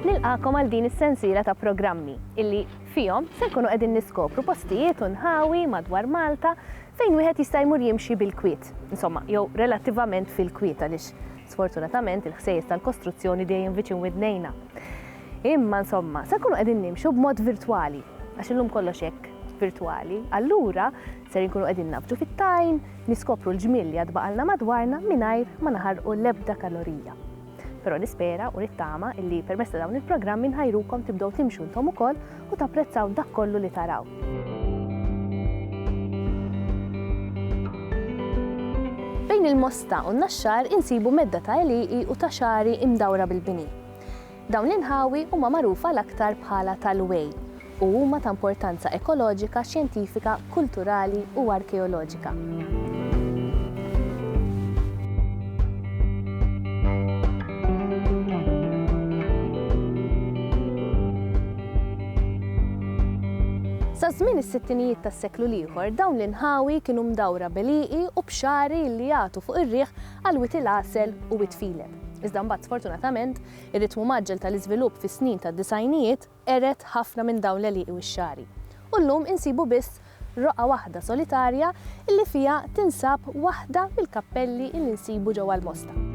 Nilqagħkom għal din is-sensiela ta' programmi illi fihom se nkunu qegħdin niskopru postijiet u nħawi madwar Malta fejn wieħed jista' jmur jimxi bil-kwiet, insomma, jew relattivament fil-kwiet għaliex sfortunatament il-ħsejjes tal-kostruzzjoni dejjem viċin widnejna. Imma insomma, se nkunu qegħdin nimxu b'mod virtwali, għax illum kollox hekk virtwali, allura Ser inkunu qegħdin nabġu fit-tajn, niskopru l-ġmiel li għad baqalna madwarna mingħajr ma naħarqu l-ebda kalorija. Però nispera u nittama illi permezz ta' dawn il-programmi nħajrukom tibdew timxu intom ukoll u tapprezzaw dak kollu li taraw. Bejn il-Mosta u n-Naxxar insibu medda ta' għelieqi u ta' xagħri imdawra bil-bini. Dawn l-inħawi huma magħrufa l-aktar bħala tal-Way u huma ta' importanza ekoloġika, xjentifika, kulturali u arkeoloġika. Sa żmien is-sittinijiet tas-seklu l-ieħor dawn l-inħawi kienu mdawra b'għelieqi u b'xagħri li jagħtu fuq ir-riħ għal wied il-għasel u wied filem. Iżda mbagħad sfortunatament, ir-ritmu mgħaġġel tal-iżvilupp fis-snin tad-disgħinijiet qered ħafna minn dawn l-għelieqi wix-xagħri. U llum insibu biss roqgħa waħda solitarja illi fiha tinsab waħda mill-kappelli illi nsibu ġewwa l-Mosta.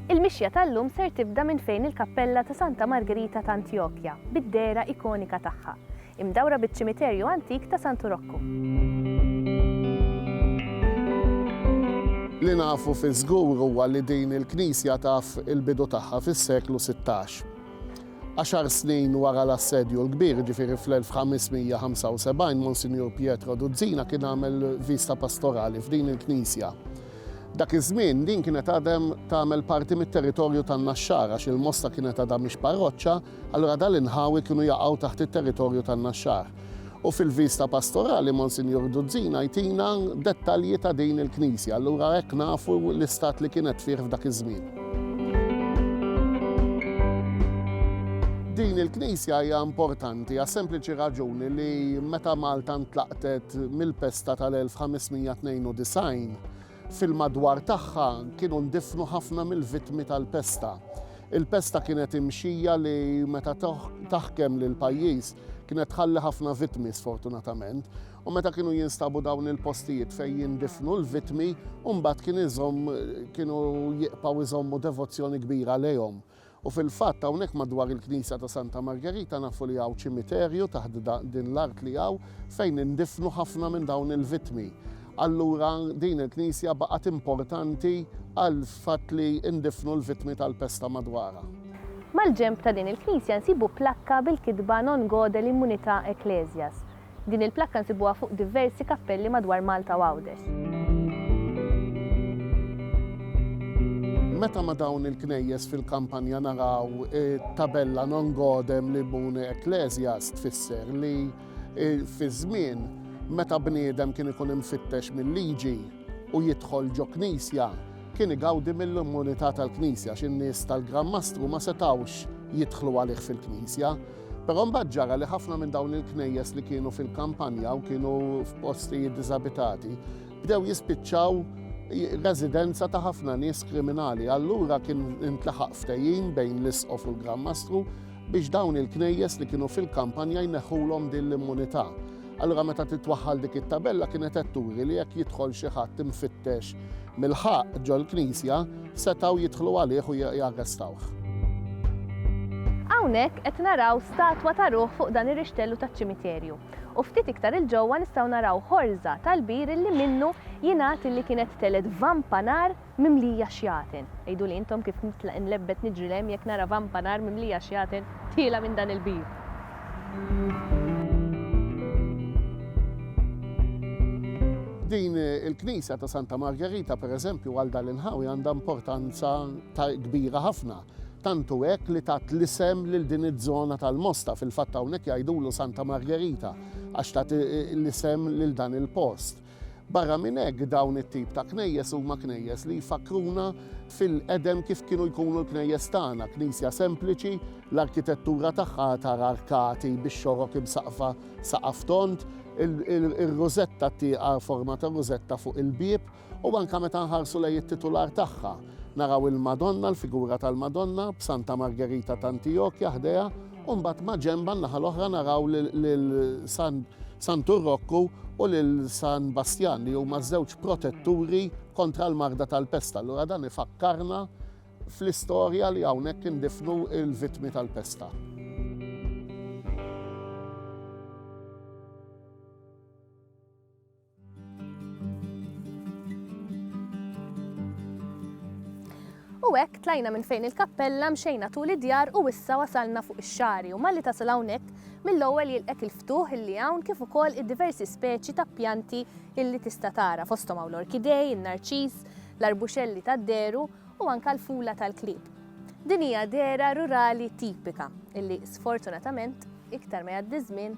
Il-mixja tal-lum ser tibda minn fejn il-kappella ta' Santa Margerita ta' Antjokja, bid-dehra ikonika tagħha, imdawra biċ-ċimiterju antik ta' Santu Rokku. Li nafu fiż-żgur huwa li din il-knisja taf il-bidu tagħha fis-seklu sittax. Għaxar snin wara l-Assedju l-Kbir, jiġifieri fl-1575, Monsinjur Pietro Duzzina kien għamel viżta pastorali f'din il-knisja. Dak iż-żmien, din kienet għadem tagħmel parti mit-territorju tan-Naxxar għax il-Mosta kienet għadha mhix parroċċa, allura dal inħawi kienu jaqgħu taħt it-territorju tan-Naxxar. U fil-viżta pastorali Monsinjur Duzzina jtina dettalji ta' din il-knisja, allura hekk nafu l-istat li kienet fih f'dak iż-żmien. Din il-knisja hija importanti għas-sempliċi raġuni li meta Malta ntlaq tgħattet mill-pesta tal-1592, fil-madwar tagħha kienu ndifnu ħafna mill-vittmi tal-pesta. Il-pesta kienet imxija li meta taħkem lil pajjiż kienet tħalli ħafna vittmi sfortunatament u meta kienu jinstabu dawn il-postijiet fejn jindifnu l-vitmi, mbagħad kien iżomm kienu jiqpaw iżommu devozzjoni kbira lejhom. U fil-fatt hawnhekk madwar il-knisja ta' Santa Margerita nafu li hawn ċimiterju taħt din l-art li hawn fejn indifnu ħafna minn dawn il-vittmi. Allura din il-knisja baqgħet importanti għall-fatt li ndifnu l-vittmi tal-pesta madwarha. Mal-ġenb ta' din il-knisja nsibu plakka bil-kitba Non Gode l-Immunità Ecclesias. Din il-plakka nsibuha fuq diversi kappelli madwar Malta u Għawdex. Meta ma' dawn il-knejjes fil-kampanja naraw it-tabella Non Godem Libune Ecclesias tfisser li fi żmien meta bniedem kien ikun imfittex mil-liġi u jidħol ġo knisja kien igawdi mill-immunità tal-knisja għax in-nies tal-Gran Mastru ma setgħux jidħlu għalih fil-knisja. Però mbagħad ġara li ħafna minn dawn il-knejjes li kienu fil-kampanja u kienu f'postijiet diżabitati bdew jispiċċaw residenza ta' ħafna nies kriminali. Allura kien intlaħaq ftehim bejn l-isqof u l-Gran Mastru biex dawn il-knejjes li kienu fil-kampanja jneħħulhom din l-immunità. Allura meta titwaħħal dik it-tabella kienet qed turi li jekk jidħol xi ħadd imfittex mill-ħaqq ġol-knisja, setgħu jidħlu għalih u jarrestawh. Hawnhekk qed naraw statwa ta' ruħ fuq dan ir-rixtellu taċ-ċimiterju, u ftit iktar 'il ġewwa nistgħu naraw ħorża tal-bir illi minnu jingħad illi kienet telgħet vampa nar Mimlija xjaten. Għiduli intom kif nitlaq inlebbet niġri 'l hemm jekk nara vampa nar mimlija xjaten tiela' minn dan il-bib. Din il-knisja ta' Santa Margerita per eżempju għal dan l-inħawi għandha importanza kbira ħafna. Tant hu hekk li tat l-isem lil din iż-żona tal-Mosta, fil-fatt hawnhekk jgħidulu Santa Margerita għax tat l-isem lil dan il-post. Barra minn hekk, dawn it-tip ta' knejjes huma knejjes li jfakkruna fil-qedem kif kienu jkunu l-knejjes tagħna, knisja sempliċi, l-arkitettura tagħha għad tara arkati bix-xorok imsaqqfa saqaf tond, ir-rużetta tieqa forma ta' rużetta fuq il-bieb, u anke meta nħarsu lejn it-titular tagħha, Naraw il-Madonna, l-figura tal-Madonna, b'Santa Margerita t'Antiokja ħdejha, u mbagħad maġenbha n-naħa l-oħra naraw lil Santu Rokku u lil San Bastjan li huma ż-żewġ protetturi kontra l-marda tal-pest. Allura dan ifakkarna fl-istorja li hawnhekk indifnu l-vittmi tal-pesta. U hekk tlajna minn fejn il-kappella mxejna tul id-djar u issa wasalna fuq ix-xagħri u malli tasal hawnhekk mill-ewwel jilqgħek il-ftuħ illi hawn kif ukoll id-diversi speċi ta' pjanti illi tista' tara fosthom hawn l-orkidej, in-narċiż, l-arbuxelli tad-dehru u anke l-fula tal-klieb. Din hija dehra rurali tipika illi sfortunatament iktar ma jgħaddi ż-żmien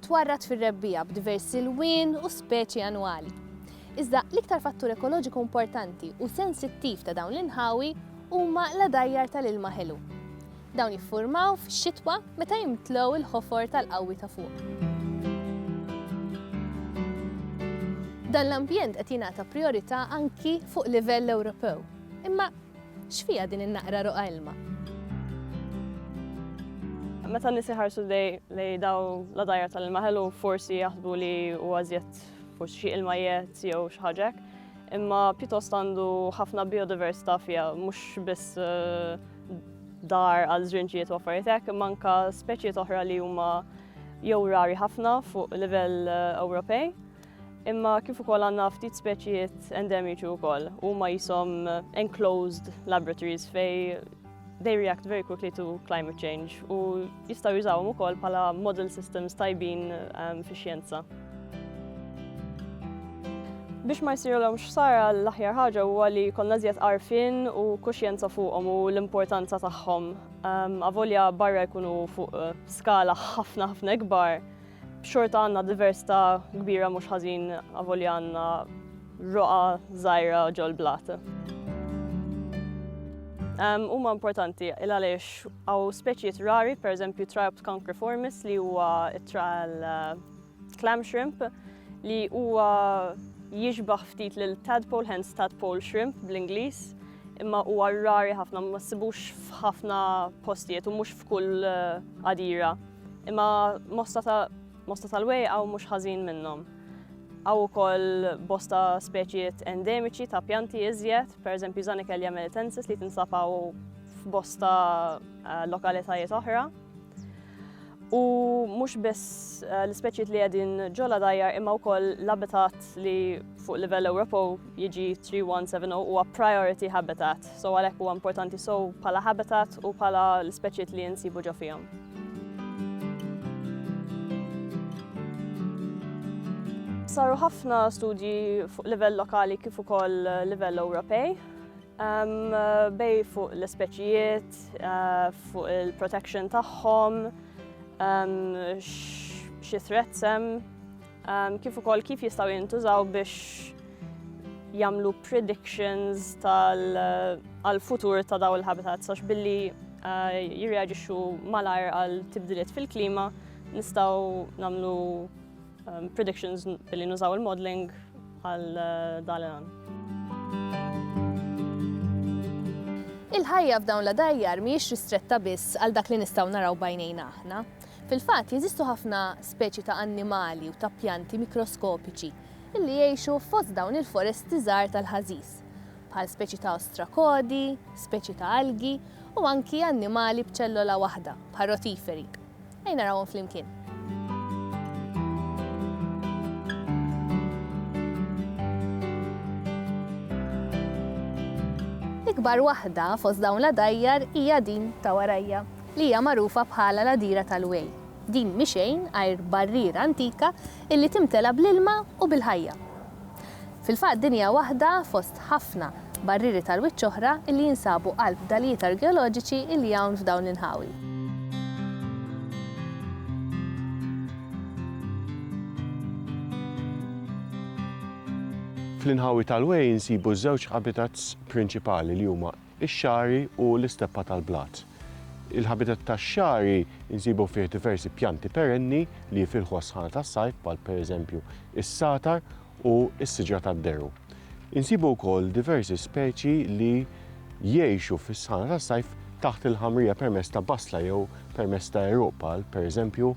Twarrad fir-rebbiegħa b'diversi lwien u speċi annwali. Iżda l-iktar fattur ekoloġiku importanti u sensittiv ta' dawn l-inħawi huma l-għadajjar tal-ilma ħelu. Dawn jiffurmaw fix-xitwa meta jimtlew il-ħofor tal-qawwi ta' fuq. Dan l-ambjent qed jingħata prijorità anki fuq livell Ewropew. Imma X'fiha din in-naqra roqgħa ilma? Meta n-nies iħarsu lejn dawn l-għadajjar tal-ilma ħelu forsi jaħsbu li huwa żjed forsi xi ilma jgħed jew xi ħaġa hekk, imma pjuttost għandu ħafna biodiversità fiha, mhux biss eh, dar għal żrinġijiet u affarijiet hekk, imma anke speċijiet oħra li huma jew rari ħafna fuq livell eh, Ewropej. imma kif ukoll għandna ftit speċijiet endemiċi wkoll huma jisom enclosed laboratories fej they react very quickly to climate change u jistgħu jużawhom ukoll bħala model systems tajbin um, fix-xjenza. Biex ma jsirulhom xsara l-aħjar ħaġa huwa li konna żjed għarfien u kuxjenza fuqhom u l-importanza tagħhom. Um, avolja barra jkunu fuq uh, skala ħafna ħafna ikbar, Xorta għandna diversità kbira mhux ħażin avolja għandna roqa żgħira ġol-blat. Huma importanti il għaliex għaw speċijiet rari, per eżempju Triopt concriformis li huwa it-trial eh, clam shrimp li huwa jiġbaħ ftit lil tadpole, hence tadpole shrimp bl-Ingliż imma huwa rari ħafna ma ssibux f'ħafna postijiet u mhux f'kull eh, għadira. Imma mosta ta' mosta tal-wej hawn mhux ħażin minnhom. Hawn ukoll bosta speċijiet endemiċi ta' pjanti iżjed, pereżempju Zanikelja melitensis li tinsab hawn f'bosta eh, lokalitajiet oħra. U mhux biss eh, l-ispeċijiet li qegħdin ġola dajjar imma wkoll l-abitat li fuq livell Ewropew UG3170 huwa priority habitat, so għalhekk huwa importanti so bħala habitat u bħala l-speċijiet li jinsibu ġo fihom. Saru ħafna studji fuq livell lokali kif ukoll eh, livell Ewropej um, bej fuq l-ispeċijiet, uh, fuq il-protection tagħhom, um, xi threats hemm. Ehm, kif ukoll kif jistgħu jintużaw biex jagħmlu predictions tal-futur eh, ta' daw il-habitats għax billi eh, jirreaġixxu malajr għal tibdiliet fil-klima nistgħu nagħmlu ehm, predictions billi nużaw il-modeling għal eh, dalan. Il-ħajja f'dawn la dajjar mhijiex ristretta biss għal dak li nistgħu naraw bajnejna aħna. Fil-fatt, jeżistu ħafna speċi ta' annimali u ta' pjanti mikroskopiċi li jgħixu fost dawn il-foresti żgħar tal-ħażiż, bħal speċi ta' ostrakodi, speċi ta' algi u anki annimali b'ċellola waħda, bħal rotiferi. Ejja narawhom flimkien. L-ikbar waħda fost dawn l-għadajjar hija din ta' warajja. li hija magħrufa bħala l-Għadira tal-Way. Din mhi xejn għajr barriera antika illi timtela bl-ilma u bil-ħajja. Fil-fatt din hija waħda fost ħafna barrieri tal-wiċċ oħra illi jinsabu qalb fdalijiet argeoloġiċi illi hawn f'dawn l-inħawi. Fl-inħawi tal-Way insibu żewġ habitats prinċipali li huma ix-xagħri u l-isteppa tal-blat. Il-ħabitat tax-xagħri nsibu fih diversi pjanti perenni li jifilħu għas-sħana tas-sajf bħal pereżempju s-sagħtar u s-siġra tad-deru. Insibu wkoll diversi speċi li jgħixu fis-sħana tas-sajf taħt il-ħamrija permezz ta' basla jew permezz ta' għeruq bħal pereżempju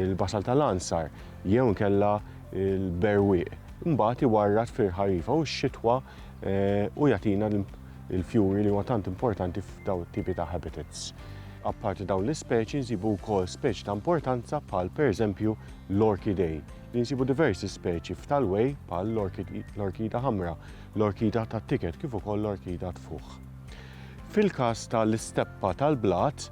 l-basal tal-għansar jew inkella l-berwieq. Imbagħad iwarrad fil-ħarifa u x-xitwa u jagħtina il-fjuri li huma tant importanti f'dawn it-tipi ta' habitats. Apparti dawn l-ispeċi nsibu wkoll speċi ta' importanza bħal pereżempju l-orkidej, li nsibu diversi speċi f'Talway bħal l-orkida ħamra, l-orkida tat-ticket kif ukoll l-orkida tfuħ. Fil-każ tal-isteppa tal-blat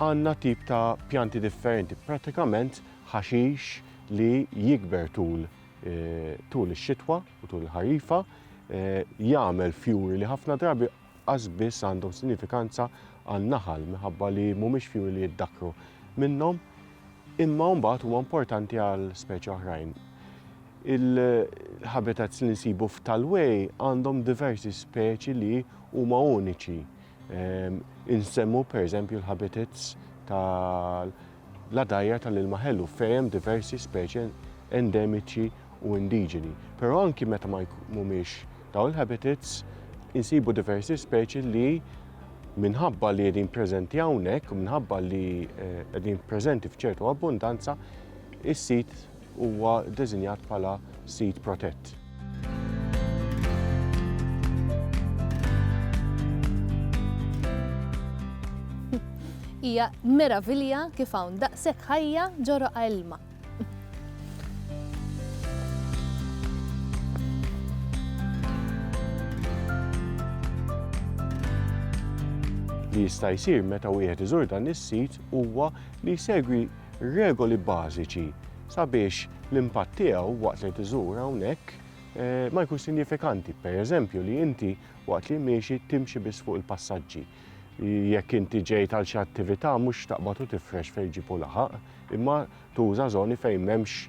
għandna tip ta' pjanti differenti, prattikament ħaxix li jikber tul tul ix-xitwa u tul il-ħarifa jagħmel fjuri li ħafna drabi qas biss għandhom sinifikanza għan-naħal minħabba li mhumiex fjuri li jiddakru minnhom imma mbagħad huma importanti għal speċi oħrajn. Il-habitats li nsibu f'Talway għandhom diversi speċi li huma uniċi. Ehm, insemmu pereżempju l-habitats tal La dgħajjar tal-ilma ħelu fejn hemm diversi speċi endemiċi u indiġeni. Però anki meta ma mhumiex dawn il-habitats, insibu diversi speċi li minħabba li qegħdin preżenti hawnhekk u minħabba li eh, qegħdin preżenti f'ċertu abbundanza, is-sit huwa ddeżinjat bħala sit protett. Hija meravilja kif hawn daqshekk ħajja ġo roqgħa ilma. li jista' jsir meta wieħed iżur dan is-sit huwa li jsegwi regoli bażiċi sabiex l-impatt tiegħu waqt li qed iżur hawnhekk ma jkunx sinjifikanti. Per eżempju li inti waqt li miexi timxi biss fuq il-passaġġi. Jekk inti ġejt għal xi attività mhux taqbad u tifrex fejn ġipu laħaq, imma tuża żoni fejn m'hemmx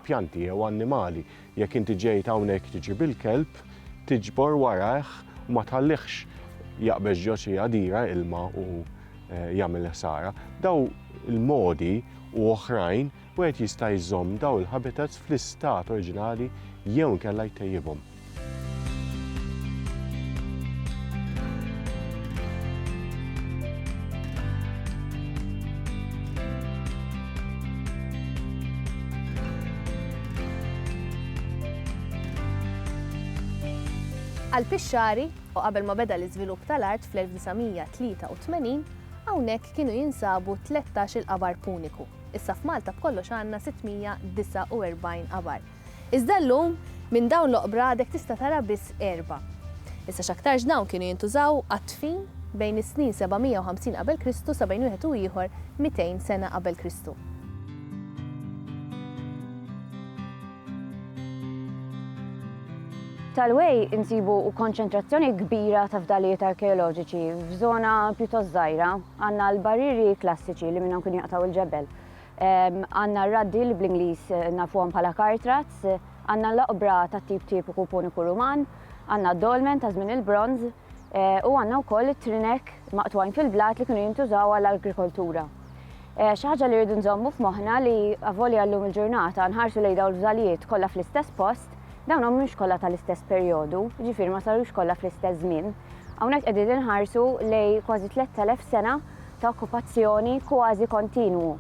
pjanti jew annimali. Jekk inti ġejt hawnhekk tiġib il-kelb, tiġbor warajh u ma tħallihx jaqbeż ġo xi għadira ilma u eh, jagħmel ħsara. Daw il-modi u oħrajn wieħed jista' jżomm daw il-habitats fl-istat oriġinali jew inkella jtejjibhom. Għall-pixxari, u qabel ma beda l-iżvilupp tal-art fl-1983, hawnhekk kienu jinsabu tlettax-il qabar Puniku. Issa f'Malta b'kollox għandna 649 qabar, Iżda llum, minn dawn l-oqbra għadek tista' tara biss erbgħa. Issa x'aktarx dawn kienu jintużaw għad-dfin bejn is-snin 750 qabel Kristu sa bejn wieħed u ieħor 200 sena qabel Kristu. Tal-way insibu konċentrazzjoni kbira ta' fdalijiet arkeoloġiċi f'żona pjuttost żgħira. Għandna l-barrieri klassiċi li minnhom kienu jaqtgħu l-ġebel. Għandna r-raddi li bl-Ingliż nafuhom bħala kartrats, għandna l-oqbra tat-tip tipiku Puniku Ruman, għandna d-dolmen ta' żmien il-Bronż, u għandna wkoll it-trinek maqtugħin fil-blat li kienu jintużaw għall-agrikoltura. Xi ħaġa li rridu nżommu f'moħħna li avolja llum il-ġurnata nħarsu lejn dawn il-fdalijiet kollha fl-istess post, dawn ma humiex kollha tal-istess perjodu, jiġifieri ma sarux kollha fl-istess żmien. Hawnhekk qegħdin inħarsu lejn kważi 3,000 sena ta' okkupazzjoni kważi kontinwu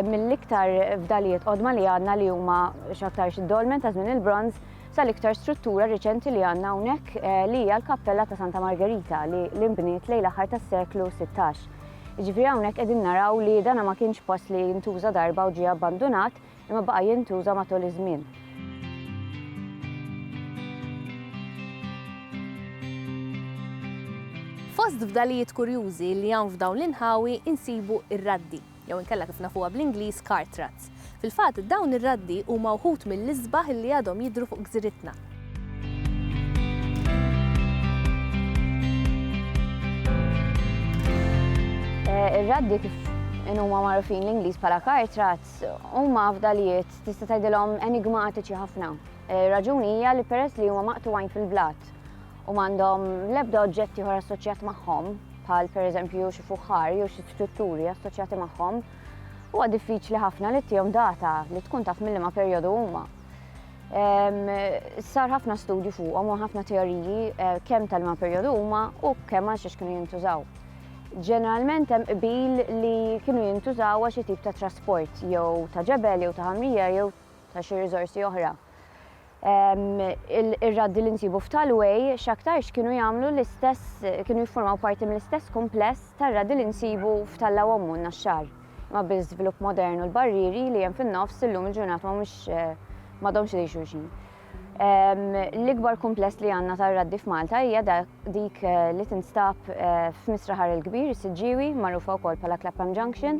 mill-iktar fdalijiet qodma li għandna li huma x'aktarx id-dolmen ta' żmien il-Bronż sal-iktar struttura riċenti li għandna hawnhekk li hija l-kappella ta' Santa Margerita li li nbniet lejn l-aħħar tas-seklu sittax. Jiġifieri hawnhekk qegħdin naraw li dana ma kienx post li ntuża darba u ġie abbandunat, imma baqa' jintuża matul iż-żmien. Fost fdalijiet kurjużi li hawn f'dawn l-inħawi insibu r-raddi, jew inkella kif nafuha bl-Ingliż cart ruts. Fil-fatt, dawn ir-raddi huma wħud mill-isbaħ li għadhom jidhru fuq gżiritna. Ir-raddi kif inhuma magħrufin l-Ingliż bħala cart ruts Fil-fatt, huma fdalijiet tista' tgħidilhom enigmatiċi ħafna. Ir-raġuni hija li peress li huma maqtugħin fil-blat u m'għandhom l-ebda oġġett ieħor assoċjat magħhom, bħal pereżempju xi fuħħar jew xi strutturi assoċjati magħhom, huwa diffiċli ħafna li tihom data li tkun taf mill-liema perjodu huma. Sar ħafna studju fuqhom u ħafna teoriji eh, kemm tal-ma perjodu huma u kemm għal xiex kienu jintużaw. Ġeneralment hemm qbil li kienu jintużaw għal xi tip ta' trasport jew ta' ġebel jew ta' ħamrija jew ta' xi riżorsi oħra. Ir-raddi li nsibu f'Tal Way x'aktarx kienu jagħmlu l-istess kienu jiffurmaw parti mill-istess kumpless tar-raddi li nsibu f'Tal Awommu u n-Naxxar, imma bil-żvilupp modern u l-barrieri li hemm fin-nofs illum il-ġurnata mhumiex m'għadhomx idejn xulxin. L-ikbar kumpless li għandna tar-raddi f'Malta hija dik eh, li tinstab eh, f'Misraħar il-Kbir, is-Siġġiewi, magħrufa wkoll bħala Clapham Junction.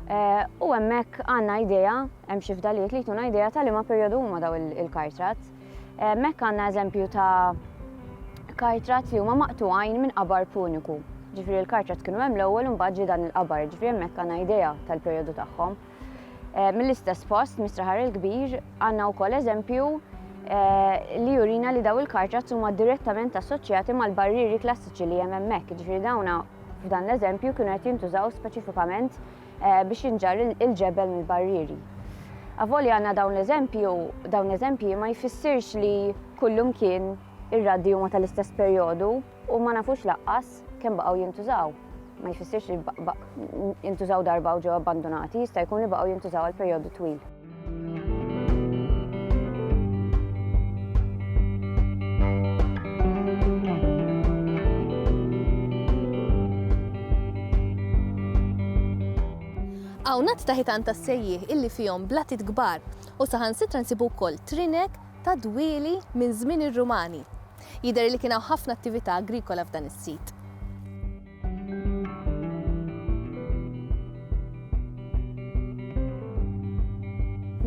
Eh, u hemmhekk għandna idea, hemm xi fdalijiet li jtuna idea ta' liema perjodu huma daw il-kartrat. Hemmhekk għandna eżempju ta' kartrat li huma maqtuħajn minn qabar puniku. Ġifri l-kartrat kienu hemm l-ewwel u mbagħad dan il-qabar, ġifri hemmhekk għandna idea tal-perjodu tagħhom. Eh, mill-istess post, mistraħar il-kbir, għanna u koll eżempju eh, li jurina li daw il-kartra huma direttament assoċjati mal-barriri klassiċi li hemm hemmhekk, ġifieri dawna f'dan l-eżempju kienu qed jintużaw speċifikament eh, biex jinġar il-ġebel mill-barriri. Avoli għanna dawn l-eżempju, dawn l-eżempji ma jfissirx li kullum kien ir-raddi huma tal-istess perjodu, U ma nafux laqqas kemm baqgħu jintużaw. Ma jfissirx li jintużaw darba u ġew abbandunati, jista' jkun li baqgħu jintużaw għal perjodu twil. Hawn għadd ta' ħitan tas-sejjieħ illi fihom blatit kbar u saħansitra nsibu wkoll trinek ta' dwieli minn żmien ir-Rumani. Jidher li kien hawn ħafna attività agrikola f'dan is-sit.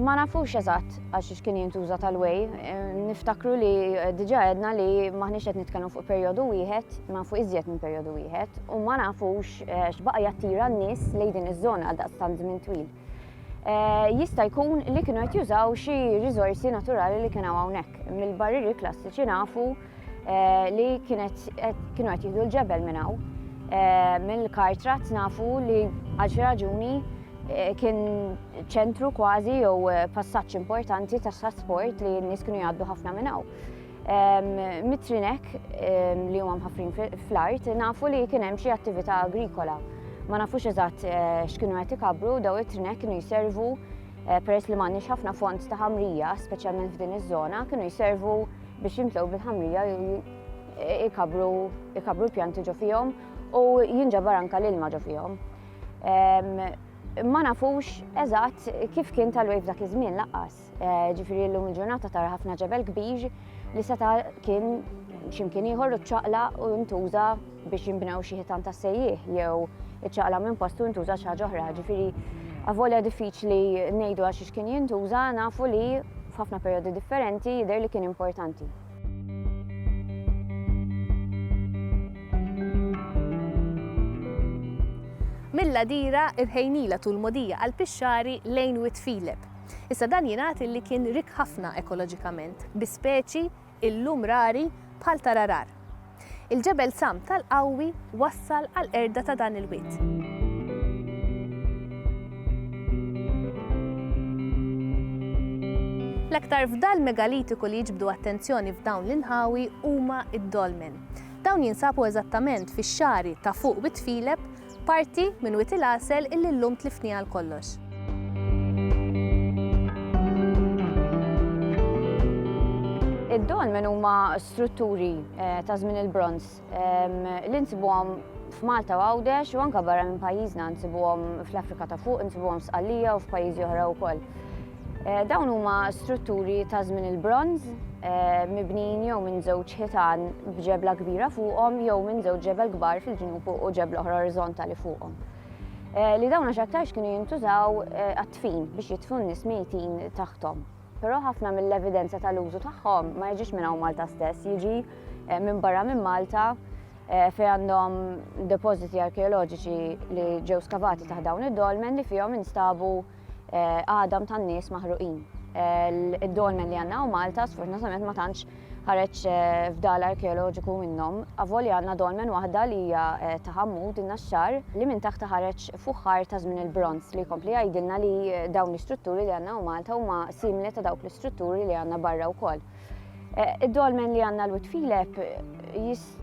Ma nafux eżatt għax x'kien jintuża tal-way. Niftakru li eh, diġa għedna li maħniex qed nitkellmu fuq perjodu wieħed, ma fuq iżjed minn perjodu wieħed, u ma nafux eh, x'baqa' jattira n-nies lejn din iż-żona għal daqstant żmien twil. Eh, jista' jkun li kienu qed jużaw xi riżorsi naturali li kien hawnhekk. Mill-barriri klassiċi nafu eh, li kienu qed jieħdu l-ġebel minn hawn. Eh, mill-kartrat nafu li għal xi raġuni kien ċentru kważi jew passaġġ importanti tas-trasport li n-nies kienu jgħaddu ħafna minn hawn. Mitrinek li huma mħaffrin fl-art nafu li kien hemm xi attività agrikola. Ma nafux eżatt eh, x'kienu qed ikabru daw it-trinek kienu jservu eh, peress li m'għandniex ħafna fond ta' ħamrija, speċjalment f'din iż-żona, kienu jservu biex jimtlew bil-ħamrija ikabru ikabru l-pjanti ġo fihom u jinġabar anka l-ilma ġo fihom. Ma nafux eżatt kif kien tal-wejf dak iż-żmien laqqas. Eh, ġifiri l-lum il-ġurnata tara ħafna ġebel kbir li seta kien ximkien ieħor u ċaqla u ntuża biex jimbnew xi ħitan ta' sejjih jew iċaqla minn postu ntuża xi ħaġa oħra. Ġifiri, avolja diffiċli ngħidu għax kien jintuża nafu li f'ħafna periodi differenti jidher li kien importanti. Milla dira irħejnila tul modija għal pixxari lejn Witfilep Issa dan jingħad illi kien rikk ħafna ekoloġikament bi speċi illum rari bħal tararar. Il-ġebel Sam tal-Qawwi wassal għall-qerda ta' dan il-wied. L-aktar fdal megalitiku li jiġbdu attenzjoni f'dawn l-inħawi huma d-dolmen. Dawn jinsabu eżattament fix-xagħri ta' fuq Wied Filep Parti minn Wied il-Għasel illi llum tliftni għal kollox. Id-dolmen huma strutturi eh, ta' żmien il-bronz ehm, li nsibuhom f'Malta u Għawdex u anka barra minn pajjiżna nsibuhom fl-Afrika ta' fuq, nsibuhom f'Sqallija u f'pajjiżi oħra wkoll. Eh, dawn huma strutturi ta' żmien il-bronż, eh, mibnin jew minn żewġ ħitan b'ġebla kbira fuqhom jew minn żewġ ġebel kbar fil-ġnub u ġebla oħra orizontali fuqhom. Eh, li dawn x'aktarx kienu jintużaw għat-tfin biex jitfu n-nies mejtin taħtom. Però ħafna mill-evidenza tal-użu tagħhom ma jiġix minn hawn Malta stess, jiġi minn barra minn Malta fejn għandhom depożiti arkeoloġiċi li ġew skavati taħt dawn id-dolmen li fihom instabu għadam tan-nies maħruqin. Id-dolmen li għandna u Malta sfortunatament ma tantx ħareġ fdal arkeoloġiku minnhom. Avolja għandna dolmen waħda li hija ta' Ħammud in-Naxxar li minn taħt ħareġ fuħħar ta' żmien il-Bronż li jkompli jgħidilna li dawn l-istrutturi li għandna u Malta huma simili ta' dawk l-istrutturi li għandna barra wkoll. Id-dolmen li għandna l-Wit Filep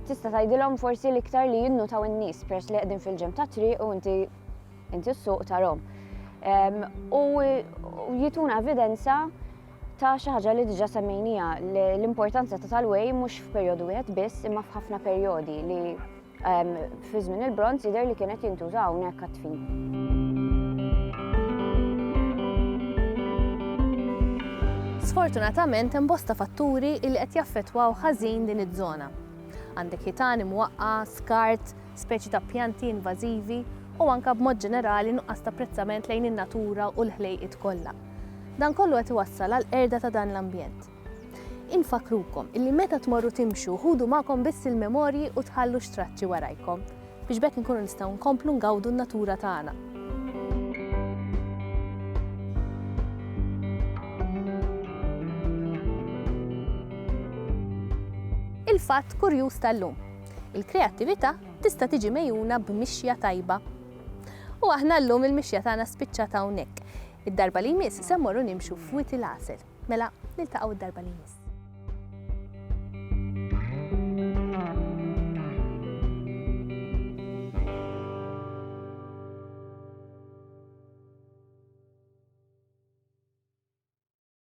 tista' tgħidilhom forsi l-iktar li jinnutaw in-nies peress li qegħdin fil-ġenb tat-triq u inti Inti s-suq tarhom. U jituna evidenza ta' xi ħaġa li diġà semmejnija l-importanza ta' tal-way mhux f'perjodu wieħed biss imma f'ħafna perjodi li ehm, fi żmien il-bronz jidher li kienet jintuża hawnhekk għat-tfin. Sfortunatament hemm bosta fatturi li qed jaffettwaw ħażin din iż-żona. Għandek ħitan imwaqqa, skart, speċi ta' pjanti invażivi u anke b'mod ġenerali nuqqas ta' apprezzament lejn in-natura u l-ħlejqiet kollha. Dan kollu qed iwassal għall-qerda ta' dan l-ambjent. Infakkrukom illi meta tmorru timxu ħudu magħkom biss il-memorji u tħallux traċċi warajkom biex b'hekk inkunu nistgħu nkomplu ngawdu n-natura tagħna. Il-fatt kurjuż tal-lum. Il-kreattività tista' tiġi megħjuna b'mixja tajba. U aħna llum il-mixja tagħna spiċċat hawnhekk. Id-darba li jmiss se mmorru nimxu f'Wied il-Għasel. Mela, niltaqgħu d-darba li jmiss.